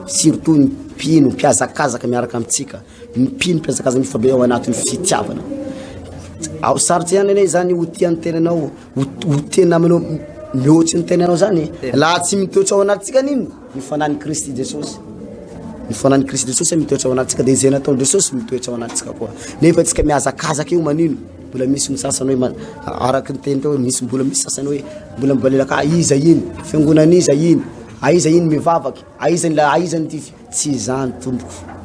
surtout ny mpino mpihazakazaka miaraka amintsika Ny mpino mpiazakaza mifabe ao anatin'ny fitiavana. Ao sarotra ihany anie izany ho tia ny tenanao, ho tia namanao mihoatry ny tenanao zany. Laha tsy mitoetra ao anatintsika aniny ny fanan'i Kristy Jesosy. Ny fanan'i Kristy Jesosy mitoetra ao anatintsika dia izay nataon'i Jesosy mitoetra ao anatintsika koa. Nefa tsika mihazakazaka io manino? Mbola misy ny sasany hoe araka ny teny teo misy mbola misy sasany hoe mbola mibalelaka aiza iny? Fiangonan'iza iny? Aiza iny mivavaka? Aiza ilay aiza ny tify? Tsy izany tompoko.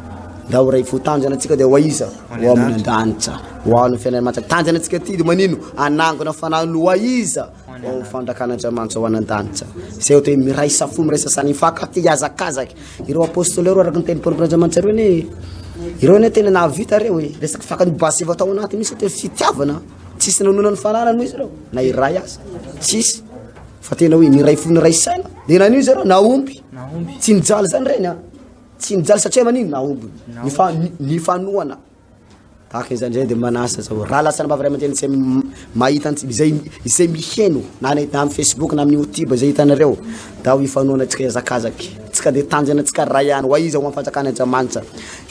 Ndao ho ray fo tanjona antsika dia ho aiza? Ho amin'ny andranitra. Ho an'ny fiainana mantsy. Tanjona antsika ity dia manino? Anangona fanahy no ho aiza? Ho amin'ny fanjakan'Andriamanitra ho any an-danitra. Izay ohatra hoe miraisa fo, miraisa saha, nifankatia, hihazakazaka. Ireo apostoly ireo araka ny teny Paoly Andriamanitra ireo anie. Ireo anie tena nahavita ireo e. Resaka fakan'ny basy efa tao anatiny mihitsy ohatra hoe fitiavana. Tsisy nanonona ny fananany moa izy ireo na iray aza. Tsisy. fa tena hoe niray fo niray saina de nanio zareo nahomby tsy nijaly zany reny a tsy nijaly satria manino nahomby nifa nifanohana tahaka izany zay de manasa zao raha lasa nambavy ray aman-dreny zay mahita antsika izay izay miheno na ny na amin'ny facebook na amin'ny youtube izay hitanareo da ho ifanohana antsika hiazakazaky tsika de tanjona antsika ray ihany hoaiza ho amin'ny fanjakana andriamanitra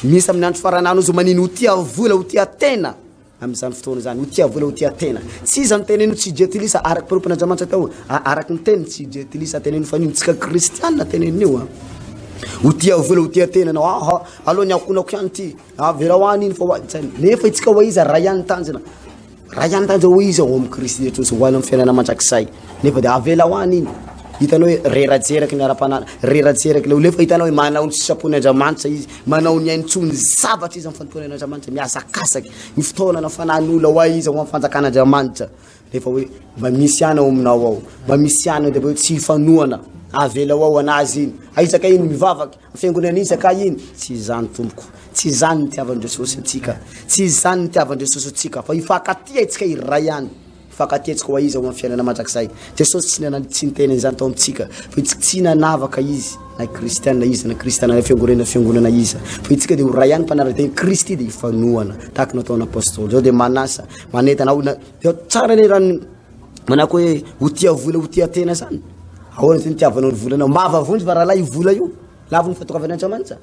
misy amin'ny andro farany any ozy manino ho tia vola ho tia tena amin'izany fotoana izany, ho tia vola, ho tia tena. Tsy iza no teneno tsy jetilisa, araka panompon'Andriamanitra tao, araka ny teny tsy jetilisa teneno fa nino tsika kristianina teneno io. Ho tia vola, ho tia tena anao, aha, aloha ny akonako ihany ty, averao any iny fa ho azy. Nefa itsika ho iza, ray ihany tanjona, ray ihany tanjona ho iza ao amin'ny Kristy Jesosy, ho any amin'ny fiainana mandrakizay. Nefa dia avela ho any iny. Hitanao hoe reratseraky ny ara-panahy, reratseraky ilay olona. Efa hitanao hoe manao ny sisapon'ny Andriamanitra izy, manao ny ainy tsoa ny zavatra izy amin'ny fanompoana an'Andriamanitra, mihazakazaka, ny fotoana na fanan'olona ho ahy izy ao amin'ny fanjakan'Andriamanitra. Nefa hoe mba misy ana ao aminao ao, mba misy ana dia hoe tsy hifanohana, avela ho ao anazy iny. Aizaka iny mivavaka, fiangonana iny zaka iny, tsy izany tompoko. Tsy izany ny tiavan'i Jesosy antsika, tsy izany ny tiavan'i Jesosy antsika, fa hifankatia antsika iray ihany. Fakan-ketsiko ho aiza ho amin'ny fiainana mandrakizay? Jesosy tsy nana- tsy niteny an'izany tao amintsika. Voitsik- tsy nanavaka Izy na Kristiana iza na Kristiana na fiangonaina na fiangonana iza. Voitsika dia ho ray any mpanara-dia Kristy dia hifanohana tahaka ny nataon'ny Apostoly. Izao dia manasa, manentana aho na- dia tsara ilay rano manako hoe ho tia vola ho tia tena izany. Ahoana izay nitiavanao ny volanao? Mba vavonjy va rahalahy io vola io? Lavon'ny fahatokavan'Andriamanitra.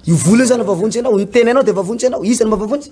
Io vola io izany vavonjy anao, ny tenanao dia vavonjy anao. Iza no mahavavonjy?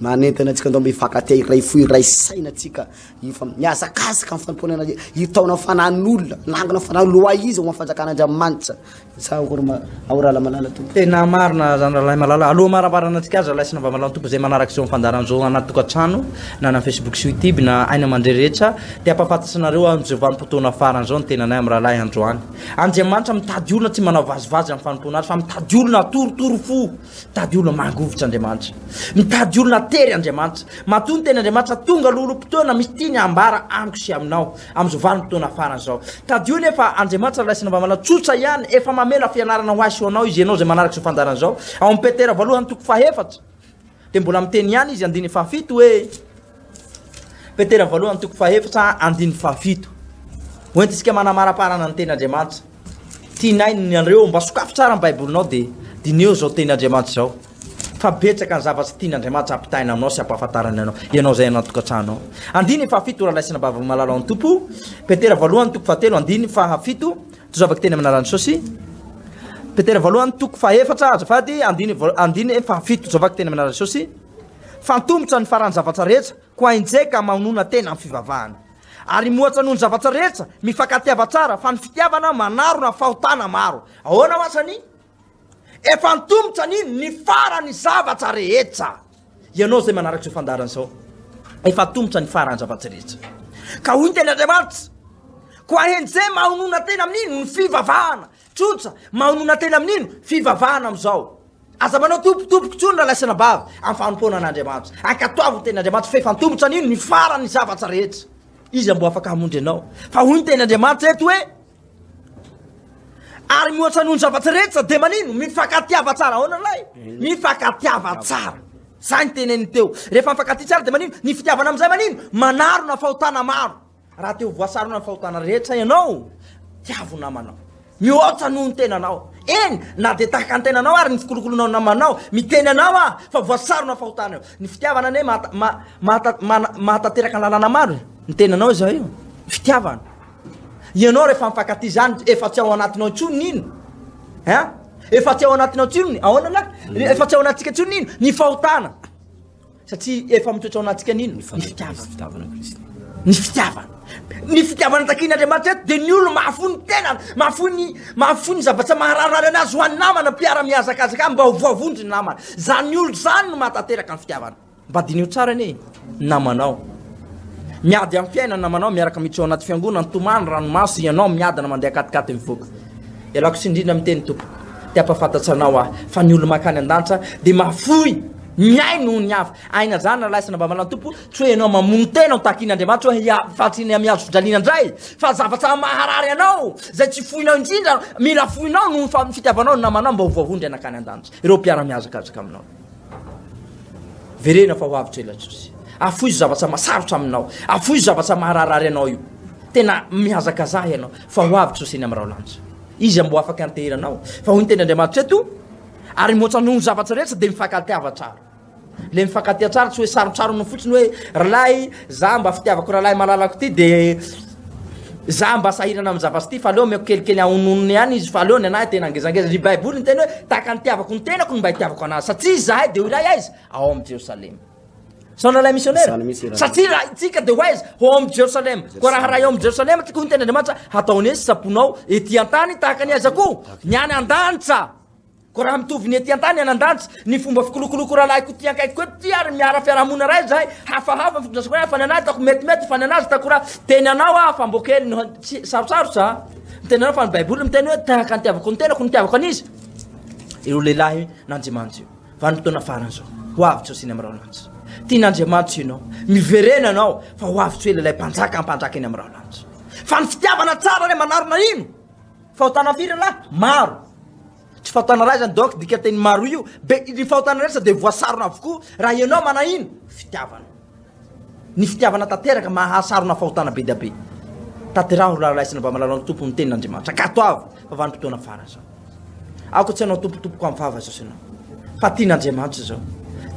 Manentana antsika ndao mba hifankatia hiray fo hiray saina tsika hifa mihazakazaka amin'ny fanompoana an'Andria hitaona ny fanahin'olona nangina ny fanahin'olona ho ahy izy ho amin'ny fanjakan'Andriamanitra sa akory ma ao rahalahy malala tompo Tena marina zany rahalahy malala. Aloha hamaramparana antsika azy rahalahy sy navamalahy ny tompo izay manaraka izao amin'ny fandaharan'izao anaty tokantrano na any amin'ny Facebook sy Youtube na aina aman-dre rehetra dia hampahafantatry anareo an'i Jehovah amim-potoana farany izao ny tenanay amin'ny rahalahy androany. Andriamanitra mitady olona tsy manao vazivazy amin'ny fanompoana Azy fa mitady olona hatorotoro fo. Mitady olona mangovitra Andriamanitra. Mitady olona atery Andriamanitra. Matoa ny teny Andriamanitra, tonga aloha olom-potoana misy tiany hambara amiko sy aminao, amin'izao vanim-potoana farany izao. Tadidio anefa, Andriamanitra ilay sinavanana tsotra ihany, efa mamela fianarana ho ahy sy ho anao Izy, ianao izay manaraka izao fandaharana izao. Ao amin'ny Petera voalohany toko fahefatra, dia mbola miteny ihany Izy, andininy fahafito, hoe. Petera voalohany toko fahefatra andininy fahafito. Hoentintsika manamaraparana ny teny Andriamanitra. Tianay ny anareo mba sokafy tsara ny Baibolinao dia diniho izao teny Andriamanitra izao. Fa betsaka ny zavatra tian'Andriamanitra hampitaina aminao sy hampahafantarany anao, ianao izay anatokantranonao. Andininy fahafito rahalahy sy anabavy malala ao amin'ny Tompo. Petera voalohany toko fahatelo andininy fahafito. Tozavako teny amin'ny anaran'i Jesosy. Petera voalohany toko fahefatra azafady andininy andininy fahafito. Tozavako teny amin'ny anaran'i Jesosy. Fantomotra ny faran'ny zavatra rehetra, koa enjehy ka mahonona tena amin'ny fivavahana. Ary mohatra noho ny zavatra rehetra, mifankatiava tsara, fa ny fitiavana manarona fahotana maro. Ahoana ho asan'i? Efa antomotra ny ny faran'ny zavatra rehetra. Ianao izay manaraka izao fandaharana izao, efa antomotra ny faran'ny zavatra rehetra. Ka hoy ny tenin'Andriamanitra, koa enjehy mahonona tena amin'ny ny fivavahana. Tsotra, mahonona tena amin'ino? Fivavahana amin'izao. Aza manao tompo tompoko tsony ralaisina bavy am fanompoana an'Andriamanitra. Ankatoavy ny teny Andriamanitra fa efa antomotra an'ino ny faran ny zavatra rehetra. Iza mbo afaka hamonjy anao? Fa hoy ny teny Andriamanitra eto hoe ary mihoatra noho ny zavatra rehetra dia manino? Mifankatiava tsara aona lay? Mifankatiava tsara. Zay ny teneniny teo. Rehefa mifankatia tsara dia manino? Ny fitiavana amin'izay manino? Manarona fahotana maro. Raha te ho voasarona amin'ny fahotana rehetra ianao, tiavo ny namanao. Mihoatra noho ny tenanao. Eny, na dia tahaka ny tenanao ary ny fikolokolonao ny namanao, miteny anao aho fa voasarona amin'ny fahotana io. Ny fitiavana anie mahatanteraka ny lalàna maro e. Ny tenanao izao io, ny fitiavana. Ianao rehefa mifankatia izany, efa tsy ao anatinao intsony ny ino? Hein? Efa tsy ao anatinao intsony, ahoana lahy? Efa tsy ao anatintsika intsony ny ino? Ny fahotana. Satria efa mitoetra ao anatintsika nino ny fitiavana. Ny fitiavana. Ny fitiavana takian'Andriamanitra eto dia ny olona mahafoy ny tenany, mahafoy ny mahafoy ny zavatra maharary anazy ho an'ny namana, mpiara-mihazakazaka aminy mba ho voavonjy ny namana. Izany olona izany no mahatanteraka ny fitiavana. Mba diniho tsara anie namanao. Miady amin'ny fiainana namanao miaraka miditra ao anaty fiangonana, tomany ranomaso ianao miadana mandeha katikaty mivoaka. Ialako tsindrina amin'ny teny tompoko. Te hampahafantatsa anao aho fa ny olona mankany an-danitra dia mahafoy Mihaino ny hafa. Aina zany ralahy sy nambavan an Tompo, tsy hoe enao mamono tena ho takin Andriamanitra hoe hiha faritry ny amihazo fijaliana ndray, fa zavatra maharary anao, zay tsy foinao indrindra, mila foinao noho ny fa fitiavanao ny namanao mba ho voavoa ndray nakany andanitra ireo mpiara mihazakazaka aminao. Verena fa ho avy tso ela Jesosy. Afoizo zavatra masarotra aminao, afoizo zavatra maharaharary anao io. Tena mihazakazaha ianao fa ho avy Jesosy eny am raho lanitra. Izy ambo afaka anteheranao, fa hoy ny teny Andriamanitra eto, Ary moatsa noho ny zavatra rehetra dia mifankatia-va tsara. Ilay mifankatia tsara tsy hoe sarotsarona fotsiny hoe ry lahy za mba fitiavako rahalahy malalako ty dia za mba sahirana amin'ny zavatra ty fa aleo omeko kelikely ahononony ihany izy fa aleo ny anahy tena ngezangeza. Ry Baiboly niteny hoe tahaka ny itiavako ny tenako no mba itiavako anazy satria izahay dia ho iray aiza? Ao amin'ny Jerosalema. Sao nalahy missionnaire? Zany mihitsy raha. Satria raha itsika dia ho aiza? Ho ao amin'ny Jerosalema. Koa raha raha eo amin'ny Jerosalema itsika hoy ny tenin'Andriamanitra, hataony hoe sampona ao ety an-tany tahaka ny aiza koa? Ny any an-danitra. Koa raha mitovy ny ety an-tany any an-danitra, ny fomba fikolokoloko rahalahiko ity ankaikiko ety ary miara fiarahamonina raha izahay, hafahafa ny fitondrasako raha fa ny anay ataoko metimety fa ny an'azy ataoko raha teny anao aho fa mbo kely no tsy sarotsarotra ny teny anao fa ny Baiboly miteny hoe tahaka ny tiavako ny tenako no tiavako an'izy ireo lehilahy nandrimanitra io. Vanim-potoana farany izao. Ho avy Jiosy eny amin'ny raholanitra. Tian'Andriamanitra ianao. Miverena ianao fa ho avy Joely ilay mpanjaka hampanjaka eny amin'ny raholanitra. Fa ny fitiavana tsara ilay manarina ino? Fahotana firy lahy? Maro. Tsy fahotana iray izany donc dikanteny maro io. Be ny fahotana rehetra dia voasarona avokoa raha ianao manahina fitiavana. Ny fitiavana tanteraka mahasarona fahotana be dia be. Tanteraho ry rahalahy sy nambaha malala ny Tompo ny tenin'Andriamanitra. Katoavy fa vanim-potoana farany izao. Aoka tsy hanao tompotompoko amin'ny vava izao sy ianao. Fa tian'Andriamanitra izao.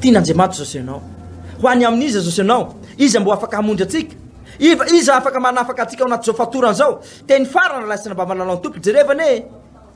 Tian'Andriamanitra izao sy ianao. Ho any amin'iza izao sy ianao? Iza mbo afaka hamonjy antsika? Iva, iza afaka manafaka antsika ao anatin'izao fatorana izao? Teny farany, rahalahy sy nambaha malala ny Tompo. Jerevana e!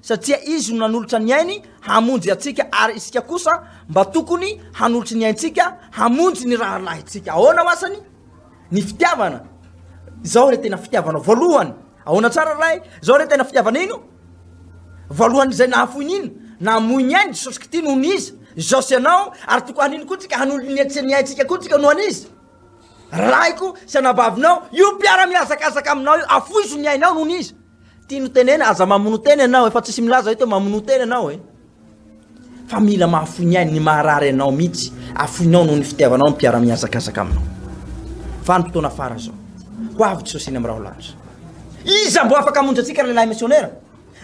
satria Izy no nanolotra ny ainy hamonjy antsika, ary isika kosa mba tokony hanolotry ny aintsika hamonjy ny rahalahintsika. Ahoana ho asany ny fitiavana? Izao re tena fitiavana voalohany. Ahoana tsara ray? Izao re tena fitiavana ino? Voalohan'izay nahafoy ny ino? Namoy ny ainy Jesosy Kristy noho ny iza? Izao sy ianao, ary tokony hanino koa tsika hanolo-ny ny aintsika koa tsika noho an'iza? Raiko sy anabavinao, io mpiara-mihazakazaka aminao io, afoizo ny ainao noho ny iza? Tiany tenena aza mamono tena ianao efa tsisy milaza eto mamono tena ianao e fa mila mahafoy ny ainy ny maharary anao mihitsy afoinao noho ny fitiavanao ny mpiara mihazakazaka aminao fa ny fotoana fara zao ho avy sosina amiraho lahatra iza mbo afaka amonjy antsika lehilahy missionnaire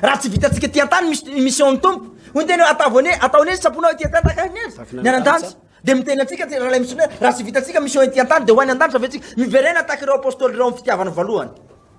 raha tsy vitantsika ty antany ny mission ny tompo hoy tena atavone ataone ny saponao ity antany tahaka ny azy ny anantany dia miteny antsika ty lehilahy missionnaire raha tsy vitantsika mission ity antany dia ho any antany sa vetsika miverena tahaka ireo apostoly ireo amin'ny fitiavana voalohany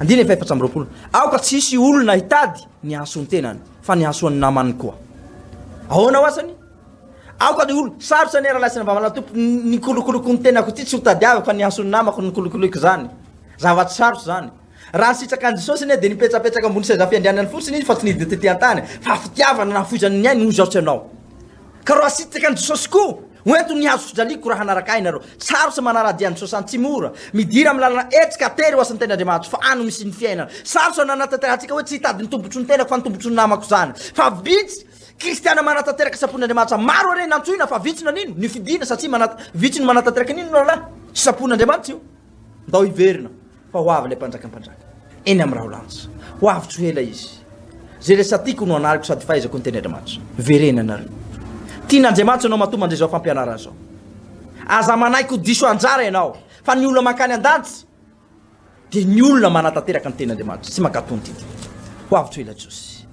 Andininy fahefatra amby roapolo, Aoka tsy hisy olona hitady ny hahasoa ny tenany, fa ny hahasoa ny namany koa. Ahoana ho asany? Aoka ny olona, sarotra ny rahalahy sy ny vamalana tompo, ny kolokoloko ny tenako ity tsy ho tadiaviko fa ny hahasoa ny namako no kolokoloiko izany. Zava-tsy sarotra izany. Raha nisitraka an'i Jesosy anie dia nipetrapetraka ambony seza fiandrianany fotsiny izy fa tsy nidina tetỳ an-tany, fa fitiavana nafoizany ny ainy no nizaotra anao. Ka raha asitraka an'i Jesosy koa, ho ento ny hazo fijaliako raha hanaraka Ahy ianareo. Tsaro sy manara-dia an'i Jesosy any tsy mora. Midira amin'ny lalana hetsika hatery ho asan'ny Tenin'Andriamanitro, fa any no misy ny fiainana. Sarotra ny hanatanterantsika hoe tsy hitady ny tombotsoan'ny tenako fa ny tombotsoan'ny namako izany. Fa vitsy Kristiana manatanteraka sitrapon'Andriamanitra. Maro ary ny nantsoina fa vitsy nanino, nifidina satria manat, vitsy no manatanteraka ny inona no lalàna sitrapon'Andriamanitra io. Ndao hiverina. Fa ho avy ilay Mpanjakan'ny mpanjaka, eny amin'ny raholanitra, ho avy tsy ho ela izy. Izay rehetra tiako no anariko sady fahaizako ny teny Andriamanitra. Verena ianareo. Tian'Andriamanitra ianao matoa mandre izao fampianarana izao. Aza manaiky ho diso anjara ianao, fa ny olona mankany an-danitra dia ny olona manatanteraka ny teny Andriamanitra sy mankatò ny didiny. Ho avy tsy ho ela Jesosy.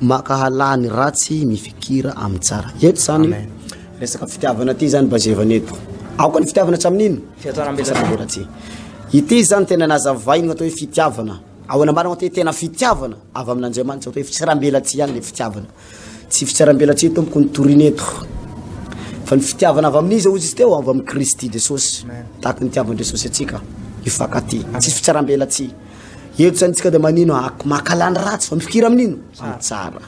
Mankahala ny ratsy mifikira amin'ny tsara. Eto zany resaka fitiavana ity zany bazevana eto. Aoka ny fitiavana tsy amin'ino? Fihatsarana ambelatsihy. Ity zany tena nazavainy atao hoe fitiavana. Ao anamarana atao hoe tena fitiavana avy amin'Andriamanitra atao hoe fitsarambelatsihy ihany le fitiavana. Tsy fitsarambelatsihy tompoko no torina eto fa ny fitiavana avy amin'iza hozy izy teo? Avy amin'i Kristy Jesosy. Tahaka ny nitiavan'i Jesosy antsika, hifankatia. Tsisy fitsarambelatsihy. Eto zany tsika de manino a, makala ny ratsy fa mifikira amin'ino? Amin'ny tsara.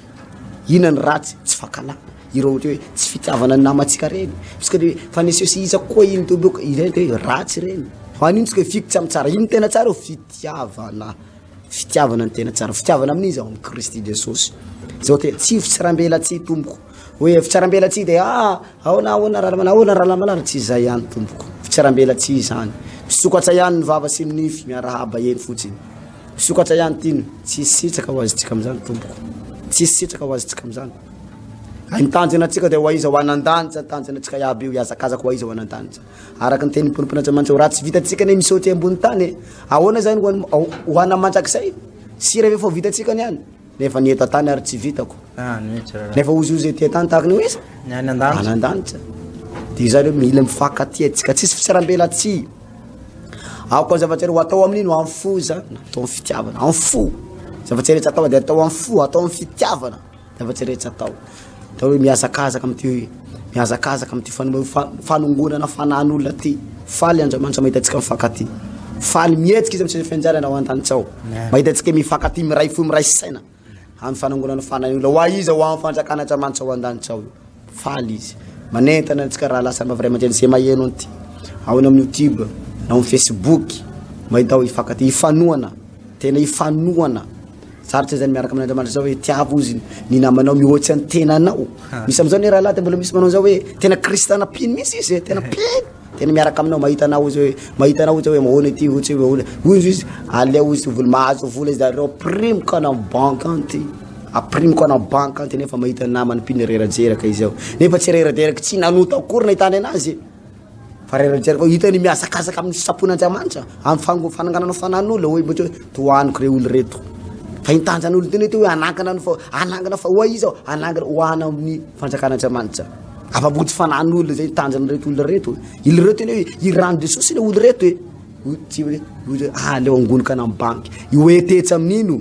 Inona ny ratsy? Tsy fakala. Ireo ohatra hoe tsy fitiavana ny namantsika reny. Tsika de fa ny seho sy iza koa iny de bôka izay de ratsy reny. An'ino tsika hifidy tsy amin'ny tsara? Inona tena tsara eo? Fitiavana. Fitiavana no tena tsara. Fitiavana amin'iza? Amin'i Kristy Jesosy. Zao te tsy hifotsy rambela tsy hitomboko. Oe fitsarambelatsihy de ah aona aona ra manao aona ra manao tsy izay ihany tompoko fitsarambelatsihy izany misokatra ihany ny vava sy ny nify miarahaba eny fotsiny misokatra ihany ty ny tsisy sitraka ho azontsika amin'izany tompoko tsisy sitraka ho azontsika amin'izany ay ny tanjona antsika de ho aiza ho anan-danitra ny tanjona antsika iaby io hiazakazaka ho aiza ho anan-danitra araka ny tenin'ny ponompon'Andriamanitra ho raha tsy vitantsika ne misaoty ambony tany ahoana izany ho an'ny ho an'ny mandrakizay sy rehefa ho vitantsika ny any Nefa ny eto an-tany ary tsy vitako. Ah, mihitsy raha. Nefa ozy ozy ety an-tany tahaka ny hoe iza? Ny any an-danitra. Any an-danitra. Dia izany hoe mila mifankatia antsika. Tsisy fitsarambelatsihy. Aoka ny zava-tsy ho atao amin'iny ho amin'ny fo izany. Atao amin'ny fitiavana, amin'ny fo. Zava-tsy rehetra atao dia atao amin'ny fo, atao amin'ny fitiavana. Zava-tsy rehetra atao. Atao hoe mihazakazaka amin'ity hoe mihazakazaka amin'ity fanome fa- fanongonana fanan'olona ty. Faly Andriamanitra mahita antsika mifankaty. Faly mihetsika izy amin'ny fianjarana ao an-danitsao. Mahita antsika mifankaty miray fo miray saina amin'ny fanongonana fanan'olona. Ho aiza ho amin'ny fanjakan'Andriamanitra ao an-danitsao io. Faly izy. Manentana antsika raha lasa mavray aman-dreny izay maheno an'ity. Ao any amin'ny YouTube, na ao amin'ny Facebook, mahita hoe hifankaty, hifanohana, tena hifanohana. Sarotra izany miaraka amin'Andriamanitra zao hoe tiavo ozy ny namanao mihoatsy an'ny tenanao. Ah. Misy amin'izao ny rahalahy dia mbola misy manao izao hoe tena kristana mpino misy izy e, tena mpino. Tena miaraka aminao mahita anao ozy hoe mahita anao ozy hoe mahoana ity ohatsy hoe mahoana. Hoy izy izy aleo ozy vola mahazo vola izy zareo aprimiko ana banque anty. Aprimiko ana banque anty nefa mahita namany mpino rerajeraka izy ao. Nefa tsy rerajeraka tsy nanota akory nahitany anazy. Farany tsy arako hitany mihazakazaka amin'ny sitrapon'i Andriamanitra amin'ny fango- fananganana fanan'olona hoe mety hoe tohaniko ireo olona ireto fa iny tanjan'olona iny mety hoe hanangana ny fa- hanangana fa ho'a izy aho hanangana ho ana amin'ny fanjakan'Andriamanitra afa-po tsy fanan'olona zay tanjan'ireto olona ireto iny ireo tena hoe i rano Jesosy ilay olona ireto e tsy hoe hoe aleo angoniko any amin'ny banky io hoe tetsy amin'iny o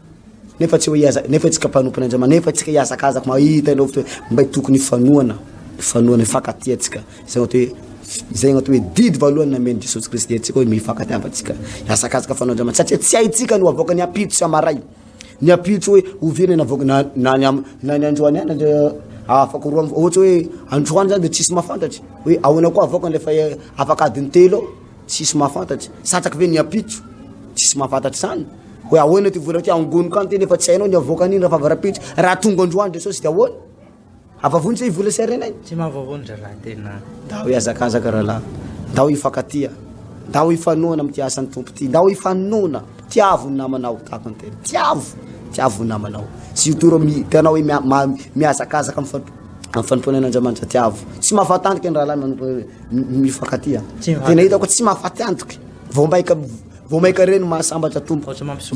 Nefa tsy hoe iaza, nefa itsika mpanompon' Andriamanitra, nefa itsika iazakazako mahita ilay fotoana mba tokony hifanohana, hifanohana, hifankatia antsika. Izay atao hoe izay atao hoe didy voalohany namen'i Jesosy Kristy antsika hoe mifankatiavantsika, hiazakazaka fanohana Andriamanitra satria tsy haintsika no havoaka ny ampitso sy hamaray. Ny ampitso hoe oviana ny havoaka na na ny am- na ny androany ihany le afaka roa am- ohatra hoe androany zany dia tsisy mahafantatra hoe ahoana koa havoaka ilay fa- afakadiny telo eo. Tsisy mahafantatra, satrako ve ny ampitso? Tsisy mahafantatra izany. Hoe ahoana ty vola ty angoniko any tena efa tsy hainao ny avoaka an'iny raha favarampitso. Raha tonga androany Jesosy dia ahoana? Avavony zay vola sy harenay. Tsy mahavavony rahalahy tena. Ndao hihazakazaka rahalahy. Ndao hifankatia. Ndao hifanohana amin'ity asan'ny Tompo ity. Ndao hifanohana. Tiavo ny namanao tahaka ny tena. Tiavo, tiavo ny namanao. Surtout ireo mpianao hoe mihazakazaka mifampi amin'ny fanompoana Andriamanitra Andriamanijatiavo tsy mahafaty antoka ny rahalahy manompo mifankatia tena hitako tsy mahafaty antoka vao maika vao maika reny mahasambatra tompo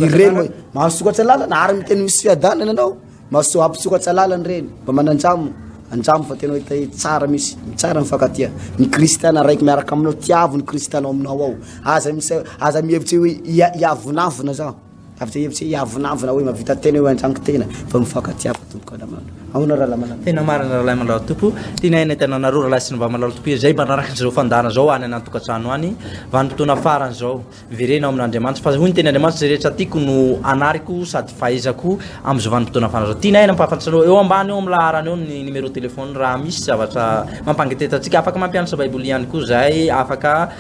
ireny mahasokatra lalana ary miteny misy fiadanana anao mahasoa hampisokatra lalana reny mba manandramo andramo fa tena hita tsara misy tsara mifankatia ny kristiana raiky miaraka aminao tiavo ny kristiana ao aminao ao aza misy aza mihevitra hoe hiavonavona zao Tafita hevitra hoe hiavonavona hoe mahavita tena eo an-tranoko tena fa mifankatia fa tompoko Alamandrao. Ahoana Rahalahy Manantopy? Tena marina Rahalahy Manantopy. Tianay hanentana anareo Rahalahy sy ny Vavy Manantopy izay mpanaraka an'izao fandaharana izao any an'an-tokantrano any. Vanim-potoana farany izao. Verena ao amin'Andriamanitra. Fa hoy ny teny Andriamanitra, izay rehetra tiako no anariko sady fahaizako amin'izao vanim-potoana farany izao. Tianay ny hampahafantatry anareo. Eo ambany eo amin'ny laharana eo ny numéro téléphone raha misy zavatra mampangeteta antsika. Afaka mampianatra Baiboly ihany koa izahay, afaka.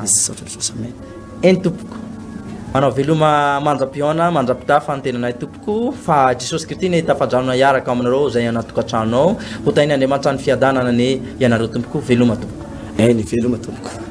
Misaotra Jesosy Amen Eny tompoko Manao veloma manjam-pihaona manjam-pitafa ny tenanay tompoko fa Jesosy Kristy ne tafadrano hiaraka aminareo izay anaty tokantrano ao hotahin' Andriamanitra ny fiadanana ne ianareo tompoko veloma tompoko Eny veloma tompoko